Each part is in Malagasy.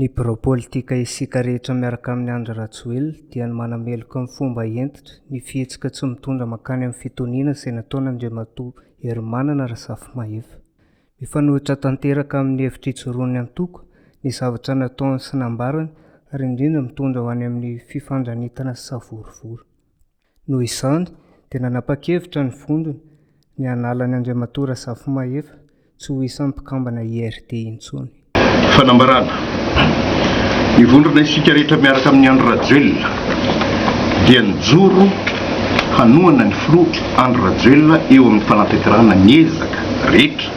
Ny birao politika isika rehetra miaraka amin'i Andry Rajoelina dia ny manameloka amin'ny fomba hentitra ny fihetsika tsy mitondra mankany amin'ny fitoniana izay nataon'Andriamatoa Herimanana Razafimahefa. Mifanohitra tanteraka amin'ny hevitr'ijoroan'ny antoko ny zavatra nataony sy nambarany ary indrindra mitondra ho any amin'ny fifandranitana sy savorovoro. Noho izany dia nanapa-kevitra ny vondrona ny hanala an'i Andriamatoa Razafimahefa tsy ho isan'ny mpikambana IRD intsony. Fanambarana, Hivondrona isika rehetra miaraka amin'i Andry Rajoelina dia nijoro hanohana ny filoha Andry Rajoelina eo amin'ny fanatanterahana ny ezaka rehetra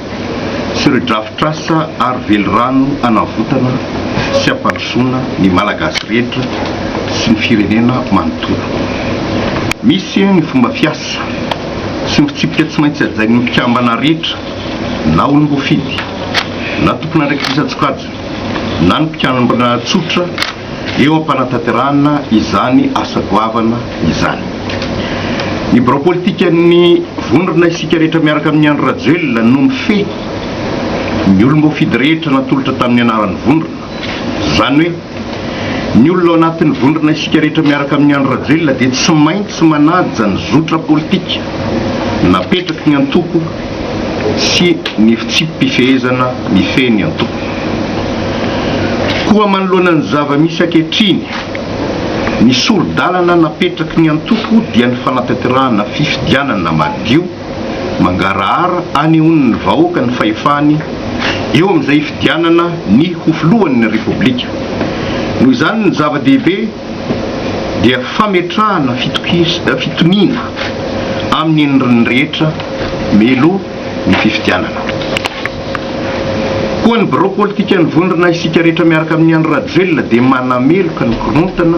sy ireo drafitr'asa ary velirano hanavotana sy hampandrosoana ny Malagasy rehetra sy ny firenena manontolo. Misy ny fomba fiasa sy ny fitsipika tsy maintsy hajain'ny mpikambana rehetra. na olom-boafidy, na tompon'andraikitran-tsokajy, na ny mpikamabana tsotra eo am-panatanterahana izany asa goavana izany. Ny birao politikan'ny vondrona Isika Rehetra miaraka amin'i Andry Rajoelina no mifehy ny olom-boafidy rehetra natolotra tamin'ny anaran'ny vondrona, izany hoe, Ny olona ao anatin'ny vondrona Isika Rehetra miaraka amin'i Andry Rajoelina dia tsy maintsy manaja ny zotra politika napetraky ny antoko sy ny fitsipi-pifehezana mifehy ny antoko. Koa manoloana ny zava-misy ankehitriny, ny sori-dalana napetraky ny antoko dia ny fanatanterahana fifidianana madio, Mangarahara anehoan'ny vahoaka ny fahefany eo amin'izay hifidianana ny ho filohan'ny Repoblika. Noho izany ny zava-dehibe dia fametrahana fitoniana amin'ny endriny rehetra mialoha ny fifidianana. Koa ny birao politikan'ny vondrona Isika Rehetra miaraka amin'i Andry Rajoelina dia manameloka ny korontana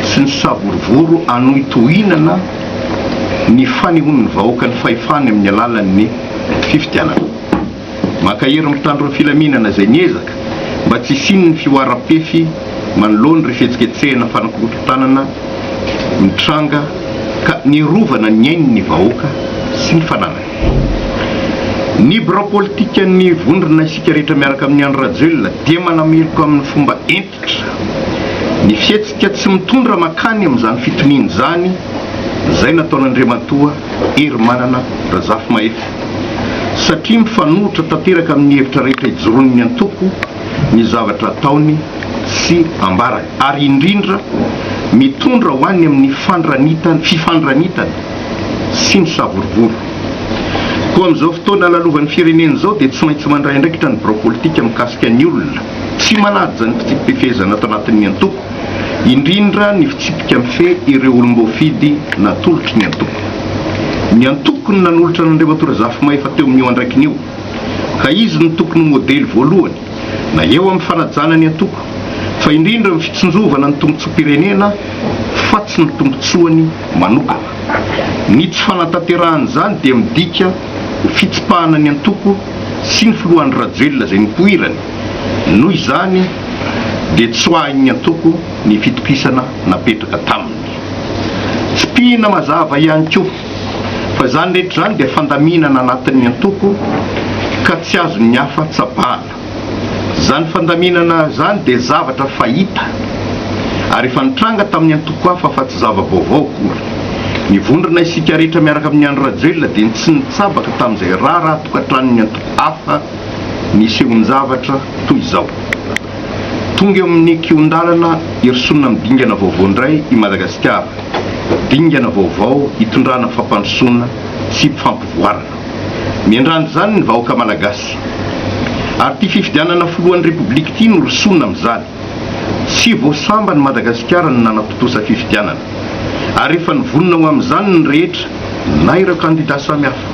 sy ny savorovoro hanohy tohinana ny fanehoan'ny vahoaka ny fahefany amin'ny alalan'ny fifidianana. Mankahery ny mpitandro ny filaminana izay miezaka mba tsy hisian'ny fihoaram-pefy manoloana ireo fihetsiketsehana fanakorontanana mitranga ka niarovana ny ainy ny vahoaka sy ny fananany. Ny birao politikan'ny Vondrona Isika Rehetra miaraka amin'i Andry Rajoelina dia manameloka amin'ny fomba entiny fototra. Ny fihetsika tsy mitondra mankany amin'izany fitoniana izany izay nataon'Andriamatoa Herimanana Razafimahefy satria mifanohitra tanteraka amin'ny hevitra rehetra ijoroan'ny antoko ny zavatra ataony sy ambarany ary indrindra mitondra ho any amin'ny fandranitana fifandranitana sy ny savorovoro. Koa amin'izao fotoana lalovan'ny firenena izao dia tsy maintsy mandray andraikitra ny birao politika mikasika ny olona Tsy manaja ny fitsipi-pifehezana ato anatin'ny antoko, indrindra ny fitsipika mifehy ireo olom-boafidy natolotry ny antoko. Ny antoko no nanolotra an'Andriamatoa Razafimahefa teo amin'io andraikiny io, ka izy no tokony ho modely voalohany, na eo amin'ny fanajana ny antoko, fa indrindra amin'ny fitsinjovana ny tombontsoam-pirenena fa tsy ny tombontsoany manokana. Ny tsy fanatanterahan'izany dia midika ho fitsipahana ny antoko, sy ny filoha Andry Rajoelina izay nipoirany, noho izany dia tsoahin'ny antoko ny fitokisana napetraka taminy. Tsipihina mazava ihany koa fa izany rehetra izany dia fandaminana anatin'ny antoko ka tsy azon'ny hafa tsapana. Izany fandaminana izany dia zavatra fahita ary efa nitranga tamin'ny antoko hafa fa tsy zava-baovao akory. Nivondrona isika rehetra miaraka amin'i Andry Rajoelina dia tsy nitsabaka tamin'izay raharaha tokantranon'ny antoko hafa nisehoan-javatra toy izao. Tonga eo amin'ny kihon-dalana irosoana amin'ny dingana vaovao indray i Madagasikara, dingana vaovao hitondrana fampandrosoana sy fampivoarana. Miandrandra izany ny vahoaka Malagasy. Ary ity fifidianana filohan'ny Repoblika ity no rosoana amin'izany. Tsy vao samban'i Madagasikara no nanatontosa fifidianana, ary efa nivonona ho amin'izany ny rehetra, na ireo kandidà samihafa,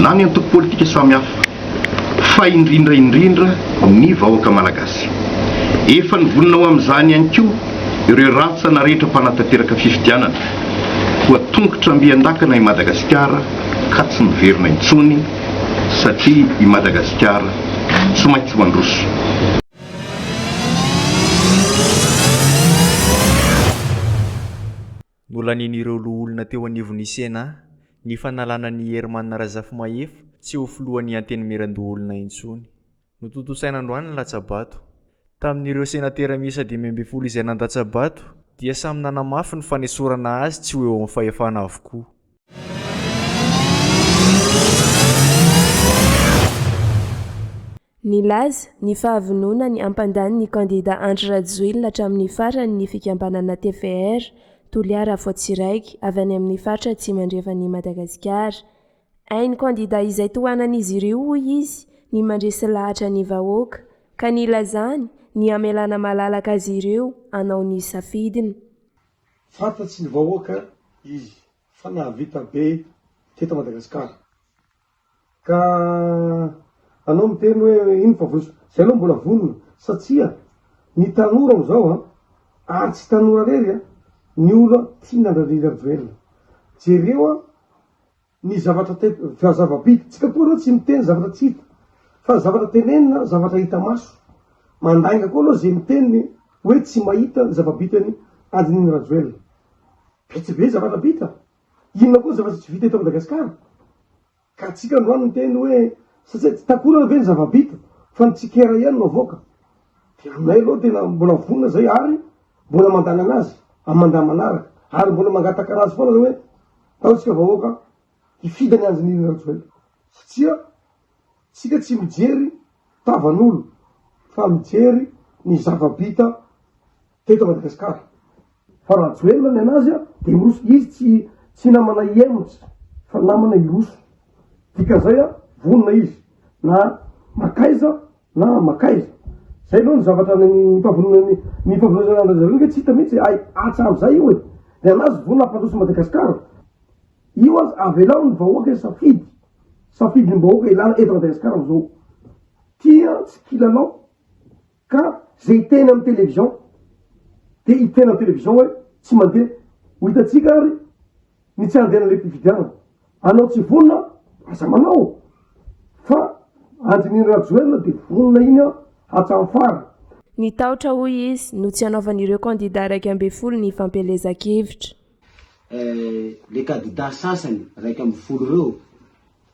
na ny antoko politika samihafa, fa indrindra indrindra ny vahoaka malagasy. Efa nivonona ho amin'izany ihany koa ireo rantsana rehetra mpanatanteraka fifidianana, koa tongotra ambian-dakana i Madagasikara ka tsy miverina intsony, satria i Madagasikara tsy maintsy mandroso. Nolanian'ireo loholona teo anivon'ny Cena ny fanalana an'i Herman Razafimahefa tsy ho filohan'ny Antenimierandoholona intsony. Notontosaina androany ny latsa-bato. Tamin'ireo senatera miisa dimy ambin'ny folo izay nandatsa-bato dia samy nanamafy ny fanesorana azy tsy ho eo amin'ny fahefana avokoa. Nilaza ny fahavononany hampandany ny kandida Andry Rajoelina hatramin'ny farany ny fikambanana tvr Toliara Afoatsiraiky avy any amin'ny faritra Atsimo Andrefan'i Madagasikara. Hain'ny kandida izay tohanan'izy ireo hoy izy ny mandresy lahatra ny vahoaka ka nilazany ny hamelana malalaka azy ireo hanao ny safidiny. Fantatry ny vahoaka izy fa nahavita be teto Madagasikara. Ka anao miteny hoe inona fa vonona. Zay aloha mbola vonona satria ny tanora amzao an, ary tsy tanora rery an, ny olo tia nandra Andry Rajoelina. Jereo an. Ny zavatra te-fa zava-bita. Tsika koa aloha tsy miteny zavatra tsy hita. Fa zavatra tenenina, zavatra hita maso. Mandainga koa aloha ze miteny hoe tsy mahita ny zava-bitany andininy Rajoelina. Vitsy be zavatra vita. Inona koa ny zavatra tsy vita eto Madagasikara? Ka tsika androany miteny hoe satsia tsy takonana ve ny zava-bita fa ny tsikera ihany no avoaka. De aminay aloha tena mbola vonona zay ary mbola mandalana azy amin'ny mandat manaraka. Ary mbola mangataka anazy foana zany hoe Ataontsika vahoaka hifidy an'i Anjinirina Rajoelina satria tsika tsy mijery tavan'olo fa mijery ny zava-bita teto Madagasikara. Fa Rajoelina ny anazy dia hiroso, izy tsy tsy namana i Hemots fa namana hiroso, dikan'izay vonona izy na makaiza. Na makaiza. Zay aloha ny zavatra ny fahavonona ny ny fahavononana an-dRajoelina aloha ve tsy hita mihitsy hay hatramin' izay io e. Ny an'azy vonona hampandroso Madagascar. Io aza avelao ny vahoaka hisafidy. Safidin'ny vahoaka ilana eto Madagascar amzao. Tia tsy kilalao ka ze hiteny amin'ny television de hiteny amin'ny television hoe tsy mandeha. Ho hitantsika ary. Ny tsy andiana le pifidianana. Anao tsy vonona aza manao fa andininy rajoelina de vonona iny an hatram farany. Ny tahotra hoy izy no tsy anaovan'ireo kandida iraika ambin'ny folo ny fampielezan-kevitra. Eh, le kandida sasany iraika ambin'ny folo reo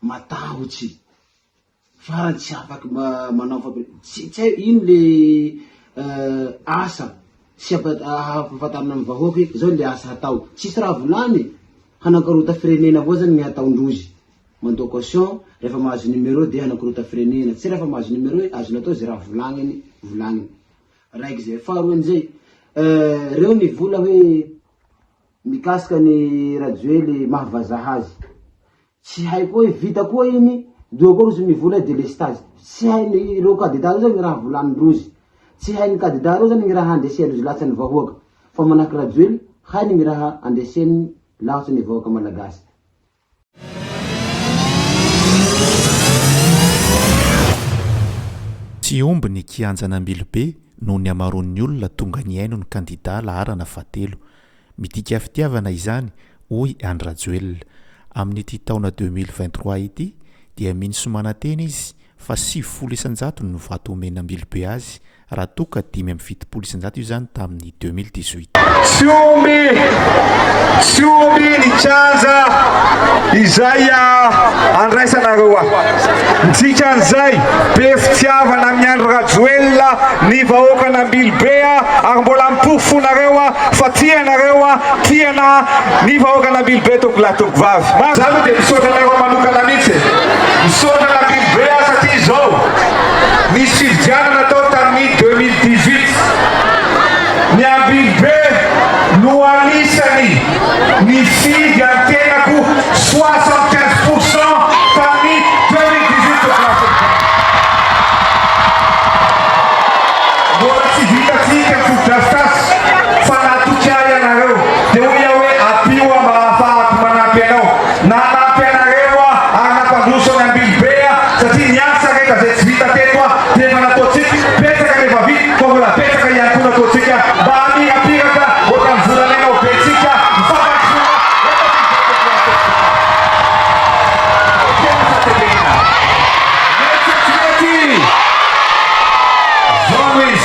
matahotsy Farany tsy afaky manao fampielezana, tsy tsy hay ino le asa sy ampahafantarina ny vahoaka hoe zao le asa hatao, tsisy raha volany e, hanakorota firenena avao zany ny hataondrozy, mandoa caution refa mahazo numero de hanakorota firenena, tsy refa mahazo numero hoe azony atao ze raha volagniny volagniny, raiky zay, faharoa amizay, reo ny vola hoe mikasika ny rajoely maha vazaha azy, Tsy hay koa hoe vita koa iny doha koa rozy mivola hoe delestage. Tsy hainy reo kadida reo zany raha volany rozy. Tsy hainy kadida reo zany raha andresen rozy lahatsa ny vahoaka. Fa manahaky rajoely hainy ny raha andreseny lahatsa ny vahoaka malagasy. Tsy omby ny kianjan'Ambilobe no niamaroan'ny olona tonga nihaino ny kandida laharana fahatelo. Midika fitiavana izany, hoy Andry Rajoelina. Amin'ity taona deux mille vingt trois ity dia mino sy manantena izy fa sivifolo isan-jato no vato omen'Ambilobe azy raha toa ka dimy amby fitopolo isan-jato izany tamin'ny deux mille dix huit. Tsy omby, tsy omby ny kianja izay andraisanareo aho. Ny dikan'izay, be fitiavana amin'i Andry Rajoelina ny vahoakan'Ambilobe ary mbola miporofo fonareo fa tia anareo a tia na ny vahoaka na biby be tompoko lahy tompoko vavy ma za lo de misaotra anareo manokana mitsy e misaotra na biby be a satria izao nisy fividianana tao tamin'ny deux mille dix huit ny ambiby be no anisany nifidy antenako soixante quinze pour cent tamin'ny deux mille dix huit tompoko lahy tompoko vavy mbola tsy vita tsika ny fotodrafitrasa Fanatoky ahy ianareo, dia hoy aho hoe, Ampio aho mba hahafahako manampy anao. Nanampy anareo aho ary nampandroso an'i Ambilobe aho, satria niasa rehetra izay tsy vita teto aho, dia efa nataontsika. Betsaka ny efa vita, fa mbola betsaka ihany koa nataontsika mba hamirapiratra ohatran'ny volamena ho bentsika mifampandrosoana eto Ambilobe. Tena sa tsy mety? Jean Louis.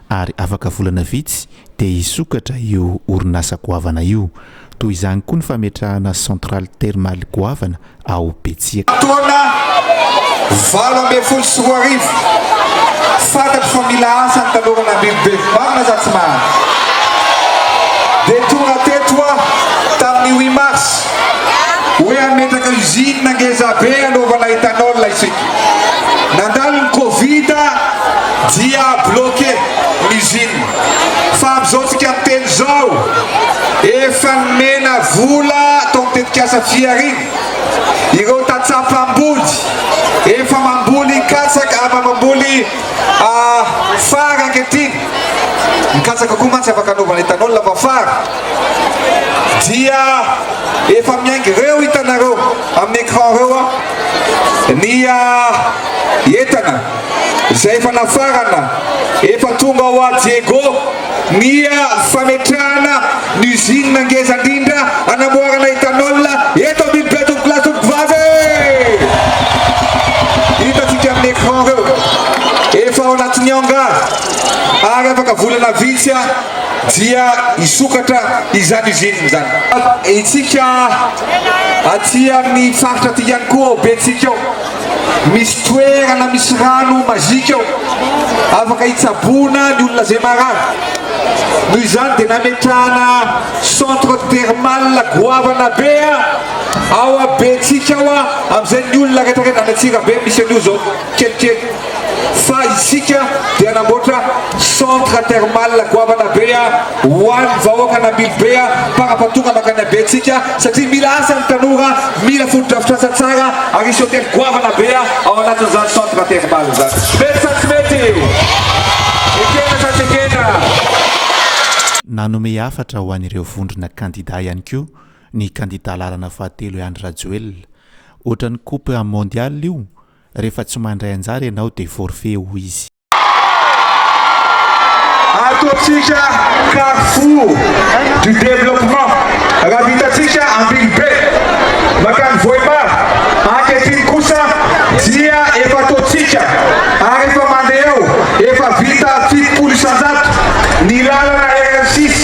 ary afaka volana vitsy dia hisokatra io orinasa goavana io. Toy izany koa ny fametrahana centrale thermale goavana ao Betsiaka. Taona valo ambin'ny folo sy roa arivo, fantatro fa mila asa ny tanora an'Andrainibevy marina sa tsy marina? Dia tonga teto aho tamin'ny huit mars hoe hametraka usine ngezabe hanaovana ethanol isika. Nandalo ny covid dia bloqué ny usine fa amin'izao tsika miteny izao efa nomena vola tao amin'ny tetikasa Fihariana ireo tantsaha mpamboly efa mamboly katsaka ah, mamboly fary ankehitriny, ny katsaka koa mantsy afaka anaovana ethanol fa fary dia efa miainga ireo hitanareo amin'ny écran ireo. ny entana izay efa nafarana, efa tonga ao à Diego ny fametrahana ny usine ngeza indrindra anamboarana ethanol eto amin'ny Betovy Glace Tompoko Vavy e! Hitantsika amin'ny écran ireo, efa ao anatin'ny hangar ary afaka volana vitsy dia hisokatra izany usine izany. Isika. Aty amin'ny faritra aty ihany koa ao Betsika ao, misy toerana misy rano mazika ao, afaka hitsaboana ny olona izay marary. Noho izany dia nametrahana centre thermal goavana be ao Betsika ao amin'izay ny olona rehetra rehetra any Antsirabe misy an'io izao kelikely. Fa isika dia namboatra centre thermal goavana be ho an'ny vahoaka an'Ambilobe mpanapatonga mankany Abentsika satria mila asa ny tanora, mila fotodrafitrasa tsara ary hisy hotely goavana be ao anatin'izany centre thermal izany. Mety sa tsy mety? Ekena sa tsy ekena? Nanome hafatra ho an'ireo vondrona kandida ihany koa ny kandida laharana fahatelo i Andry Rajoelina. Ohatran'ny coupe mondiale io Rehefa tsy mandray anjara ianao dia forfait, hoy izy. Ataontsika carrefour du développement raha vitantsika Ambinibe mankany Vohemar. Ankehitriny kosa dia efa ataontsika ary efa mandeha eo, efa vita fitopolo isan-jato ny lalana RN six.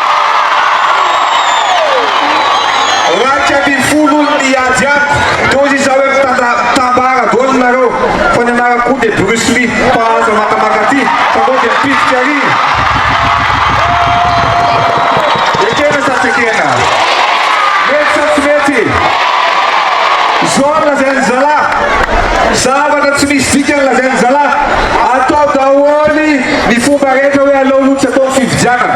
Iraika ambin'ny folo olo niady amiko teo izy izao hoe mitambara daholo nareo fa ny anarako koa dia Bruce Lee mpahazo makamaka ty fa anao dia mpifidy ary ekena sa tsy ekena? Mety sa tsy mety? Izao no lazain'ny zalahy, zavatra tsy misy dikany lazain'ny zalahy, atao daholo ny fomba rehetra hoe aleo aloha tsy atao ny fifidianana.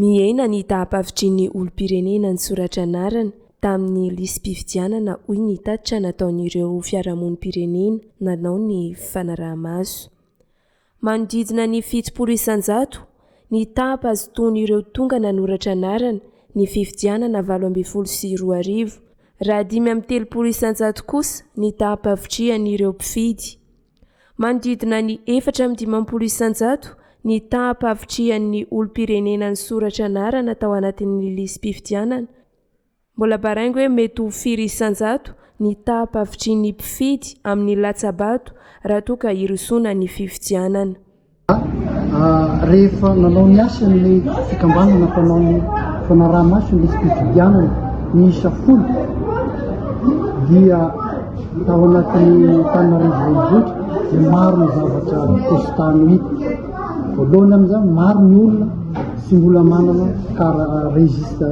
Mihena ny taham-pahavitrian'ny olom-pirenena nisoratra anarana tamin'ny lisi-pifidianana hoy ny tatitra nataon'ireo fiarahamonim-pirenena nanao ny fanaraha-maso. Manodidina ny fitopolo isan-jato ny taham-pahazotoan'ireo tonga nanoratra anarana ny fifidianana valo ambin'ny folo sy roa arivo, raha dimy amby telopolo isan-jato kosa ny taham-pahavitrihan'ireo mpifidy. Manodidina ny efatra amby dimampolo isan-jato ny taham-pahavitrihan'ny olom-pirenena nisoratra anarana tao anatin'ny lisi-pifidianana. Mbola baraingo hoe mety ho firy isan-jato ny taham-pahavitrian'ny mpifidy amin'ny latsa-bato raha toa ka hirosoana ny fifidianana. Fa rehefa nanao ny asany ny fikambanana mpanao ny fanaraha-maso ny fifidianana miisa folo dia tao anatin'ny Antananarivo Renivohitra dia maro ny zavatra testa no hita. Voalohany amin'izany maro ny olona tsy mbola manana kara registre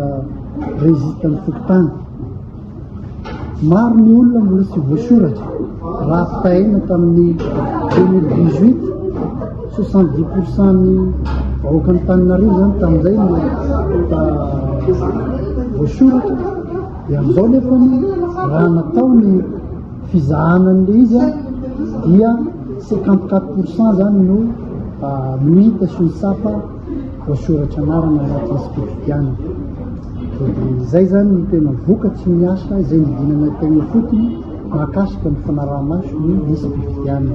registre ny fokontany. Maro ny olona mbola tsy voasoratra raha fitahaina tamin'ny 2018 soixante dix pour cent ny vahoakan'ny Tananarivo zany tamin'izay no voasoratra dia amin'izao nefa ny raha natao ny fizahana an'le izy a dia cinquante quatre pour cent zany no no hita sy ny tsapa voasoratra anarana anaty encyclopediana dia dia izay izany ny tena vokatry ny asa izay nidinana teny ifotony mahakasika ny fanaraha-maso ny encyclopediana.